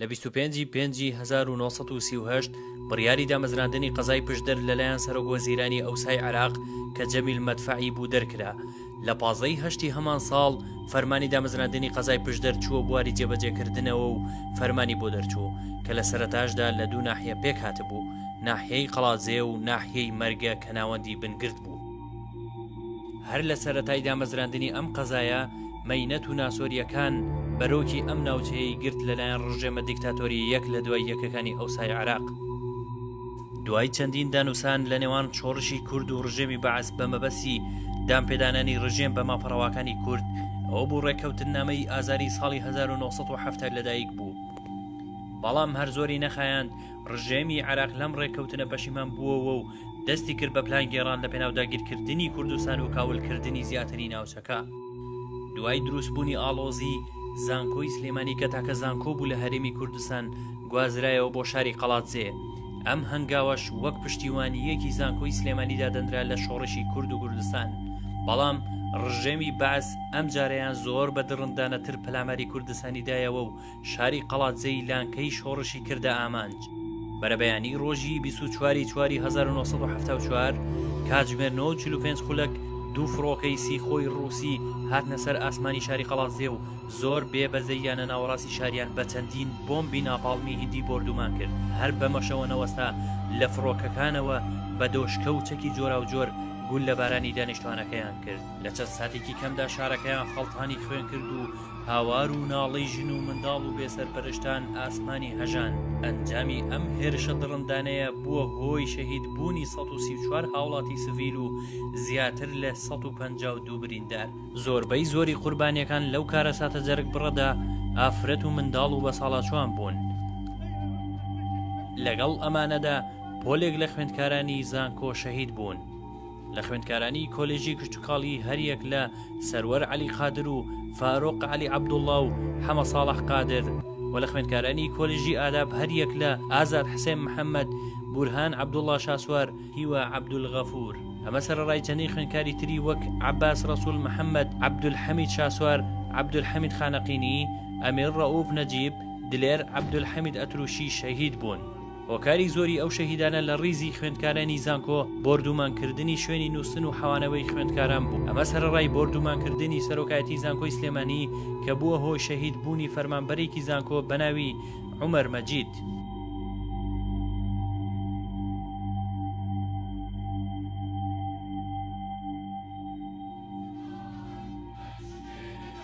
لە 25 ی پێنجی 1938 بڕیاری دامەزراندنی قەزای پشدەر لەلایەن سەرۆک وەزیرانی ئەوسای عێراق کە جەمیل مەدفەعی بوو دەرکرا لە پازدە ی هەشتی هەمان ساڵ فەرمانی دامەزراندنی قەزای پشدەر چووە بواری جێبەجێکردنەوە و فەرمانی بۆ دەرچوو کە لە سەرەتاشدا لە دوو ناحیە پێکهاتبوو، ناحیەی قەڵادزێ و ناحیەی مەرگە کە ناوەندی بنگرد بوو. هەر لە سەرەتای دامەزراندنی ئەم قەزایە مەینەت و ناسۆرییەکان بەرۆکی ئەم ناوچەیەی گرت لەلایەن ڕژێمە دیکتاتۆرییەک لە دوای یەکەکانی ئەوسای عێراق. دوای چەندین دانوسان لە نێوان شۆڕشی کورد و ڕژێمی بەعس بە مەبەسی دانپێدانانی ڕژێم بە مافەڕەواکانی کورد ئەو بوو ڕێککەوتن نامەی ئازاری ساڵی 1970 لەدایک بوو بەڵام هەر زۆری نەخایاند ڕژێمی عراق لەم ڕێککەوتنە پەشیمان بووەوە و دەستی کرد بە پلان گێڕان لە پێناو داگیرکردنی کوردستان و کاولکردنی زیاتری ناوچەکە. دوای دروست بونی ئاڵۆزی زانکۆی سلێمانی کە تاکە زانکۆ بوو لە هەرێمی کوردستان گوازرایەوە بۆ شاری قەڵادزێ ئەم هەنگاوەش وەک پشتیوانیەکی زانکۆی سلێمانی دادەنرا لە شۆڕشی کورد و کوردستان بەڵام ڕژێمی بەعس ئەمجارەیان زۆر بە دڕندانەتر پەلاماری کوردستانی دایەوە و شاری قەڵادزێی لانکەی شۆڕشی کردە ئامانج. بەرەبەیانی ڕۆژی 24 چواری 1970 کاتژمێر 95 خولەک دوو فڕۆکەی سیخۆی ڕووسی هاتنە سەر ئاسمانی شاری قەڵازێ و زۆر بێ بەزەیانە ناوەڕاستی شاریان بە چەندین بۆمبی ناپاڵمی هندی بردومان کرد هەر بەمەشەوە نەوەستا لە فڕۆکەکانەوە بە دۆشکە و چەکی جۆرا و جۆر گول لە بارانی دانیشتوانەکەیان کرد لە چەند ساتێکی کەمدا شارەکەیان خەڵتانی خوێن کرد و هاوار و ناڵەی ژن و منداڵ و بێسەرپەرشتان ئاسمانی هەژاند، ئەنجامی ئەم هێرشە دڕندانەیە بووە هۆی شەهید بوونی سەد و سی و چوار هاوڵاتی سڤیل و زیاتر لە سەد و پەنجا و دوو بریندار، زۆربەی زۆری قوربانیەکان لەو کارەساتە جەرگبڕەدا ئافرەت و منداڵ و بەساڵاچوان بوون. لەگەڵ ئەمانەدا پۆلێک لە خوێندکارانی زانکۆ شەهید بوون. لە خوێندکارانی کۆلێژی کشتتوکاڵی هەریەک لە سەروەر علی قادر و فارۆق علی عبدوڵڵا و حەمە ساڵح قادر و لە خوێندکارانی کۆلژی ئاداب هەریەک لە ئازاد حسێن محەممەد بورهان عبدوڵڵا شاسوار هیوا عبدولغەفور ئەمە سەرڕای چەندین خوێندکاری تری وەک عباس ڕسول محەممەد عبدولحەمید شاسوار عبدولحەمید خانەقینی ئەمیر ڕەوف نەجیب دلێر عبدولحەمید ئەتروشی شەهید بوون. هۆکاری زۆری ئەو شەهیدانە لە ڕیزی خوێندکارانی زانکۆ بۆردومان کردنی شوێنی نووستن و حەوانەوەی خوێندکاران بوو ئەمە سەرەڕای بۆردومان کردنی سەرۆکایەتی زانکۆی سلێمانی کە بووە هۆی شەهید بوونی فەرمانبەرێکی زانکۆ بەناوی عومەر مەجید.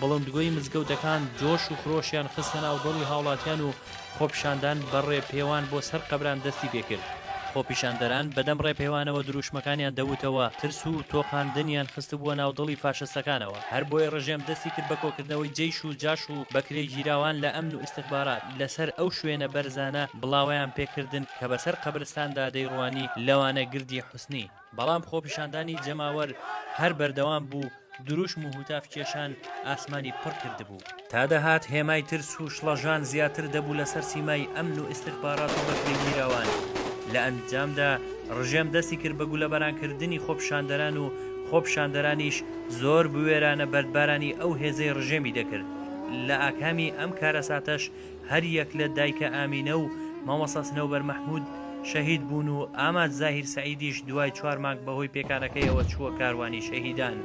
بڵندگۆی مزگەوتەکان جۆش و خرۆشیان خستە ناو دڵی هاوڵاتیان و خۆپیشاندان بە ڕێپێوان بۆ سەر قەبران دەستی پێ کرد. خۆپیشاندەران بەدەم ڕێپێوانەوە درووشمەکانیان دەوتەوە، ترس و تۆقاندنیان خستبووە ناو دڵی فاشستەکانەوە. هەر بۆیە ڕژێم دەستی کرد بە کۆکردنەوەی جەیش و جاش و بەکرێگیراوان لە ئەمن و ئیستخبارات لە سەر ئەو شوێنە بەرزانە بڵاوەیان پێ کردن کە بە سەر قەبرستاندا دەیڕوانی، لەوانە گردی حوسنی. بەڵام خۆپیشاندانی جەماوەر هەر بەردەوام بوو، دروشم و هوتاف کێشان ئاسمانی پڕ کردبوو. تا دەهات هێمای ترس و شڵەژان زیاتر دەبوو لەسەر سیمای ئەمن و ئیستخبارات و بەکرێگیراوان. لە ئەنجامدا ڕژێم دەستی کرد بە گولەباران کردنی خۆپیشاندەران و خۆپیشاندەرانیش زۆر بوێرانە بەردبارانی ئەو هێزەی ڕژێمی دەکرد. لە ئاکامی ئەم کارەساتەش هەر یەک لە دایکە ئامینە و مامۆستا سنەوبەر مەحمود شەهید بوون و ئاماد زاهیر سەعیدیش دوای چوار مانگ بەهۆی پێکانەکەیەوە چووە کاروانی شەهیدان.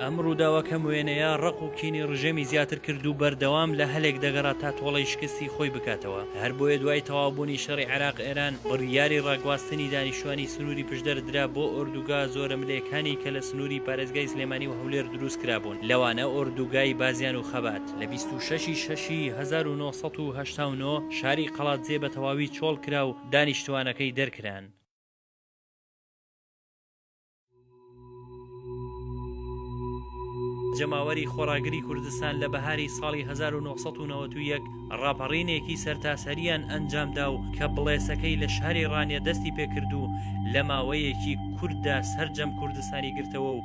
ئەم ڕووداوە کەم وێنەیە ڕق و کینی ڕژێمی زیاتر کرد و بەردەوام لە هەلێک دەگەڕا تا تۆڵی شکستی خۆی بکاتەوە هەر بۆیە دوای تەوابوونی شەڕی عراق ئێران بڕیاری ڕاگواستنی دانیشتوانی سنووری پشدەر درا بۆ ئۆردوگا زۆرە ملێکانی کە لە سنووری پارێزگای سلێمانی و هەولێر دروست کرابوون لەوانە ئۆردوگای بازیان و خەبات. لە بیست و شەش ی شەش ی هەزار و نۆ سەد و هەشتا و نۆ شاری قەڵادزێ بە تەواوی چۆڵ کرا و دانیشتووانەکەی دەرکران. جەماوەری خۆڕاگری کوردستان لە بەهاری ساڵی هەزار و نۆ سەد و نەوەد و یەک ڕاپەڕینێکی سەرتاسەرییان ئەنجام دا و کە بڵێسەکەی لە شاری ڕانیە دەستی پێ کرد و لە ماوەیەکی کورتدا سەرجەم کوردستانی گرتەوە و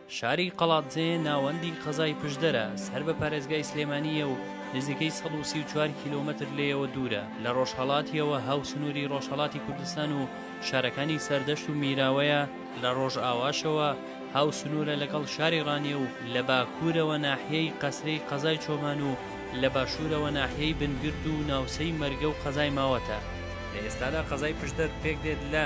شاری قەڵادزێ ناوەندی قەزای پشدەرە، سەر بە پارێزگای سلێمانییە و نزیکەی سەد و سی و چوار کیلۆمەتر لێیەوە دوورە، لە ڕۆژهەڵاتییەوە هاوسنووری ڕۆژهەڵاتی کوردستان و شارەکانی سەردەشت و میراوەیە، لە ڕۆژاواشەوە هاوسنوورە لەگەڵ شاری ڕانیە و لە باکوورەوە ناحیەی قەسرەی قەزای چۆمان و لە باشوورەوە ناحیەی بنگرد و ناوچەی مەرگە و قەزای ماوەتە. لە ئێستادا قەزای پشدەر پێکدێت لە.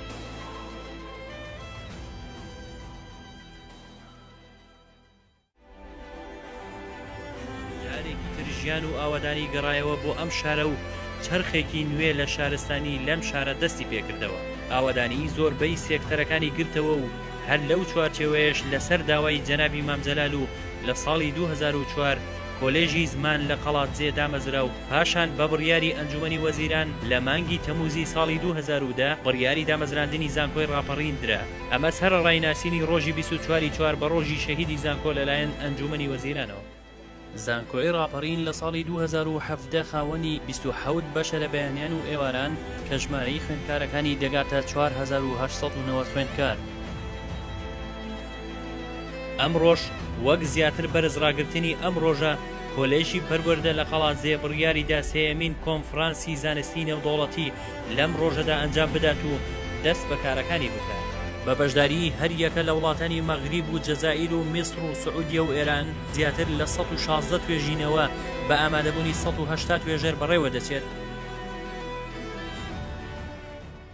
جارێکی تر ژیان و ئاوەدانی گەڕایەوە بۆ ئەم شارە و چەرخێکی نوێ لە شارستانی لەم شارە دەستی پێکردەوە ئاوەدانی زۆربەی سێکتەرەکانی گرتەوە و هەر لەو چوارچێوەیەش لەسەر داوای جەنابی مام جەلال و لە ساڵی 2004 کۆلێژی زمان لە قەڵادزێ دامەزرا و پاشان بە بڕیاری ئەنجوومەنی وەزیران لە مانگی تەمووزی ساڵی دوو هەزار و دە بڕیاری دامەزراندنی زانکۆی ڕاپەڕین درا، ئەمە سەرەڕای ناسینی ڕۆژی بیست و چوار ی چوار بە ڕۆژی شەهیدی زانکۆ لەلایەن ئەنجوومەنی وەزیرانەوە. زانکۆی ڕاپەڕین لە ساڵی دوو هەزار و حەڤدە خاوەنی بیست و حەوت بەشە لە بەیانیان و ئێواران کە ژمارەی خوێندکارەکانی دەگاتە چوار هەزار و هەشت سەد و نەوەد خوێندکار. ئەمڕۆش وەک زیاتر بەرز ڕاگرتنی ئەم ڕۆژە، کۆلێژی پەروەردە لە قەڵادزێ بڕیاری دا سێیەمین کۆنفرانسی زانستیی نێودەوڵەتی لەم ڕۆژەدا ئەنجام بدات و دەست بە کارەکانی بکات. بە بەشداریی هەر یەکە لە وڵاتانی مەغریب و جەزائیر و میسڕ و سعودیە و ئێران، زیاتر لە سەد و شازدە توێژینەوە بە ئامادەبوونی سەد و هەشتا توێژەر بەڕێوە دەچێت.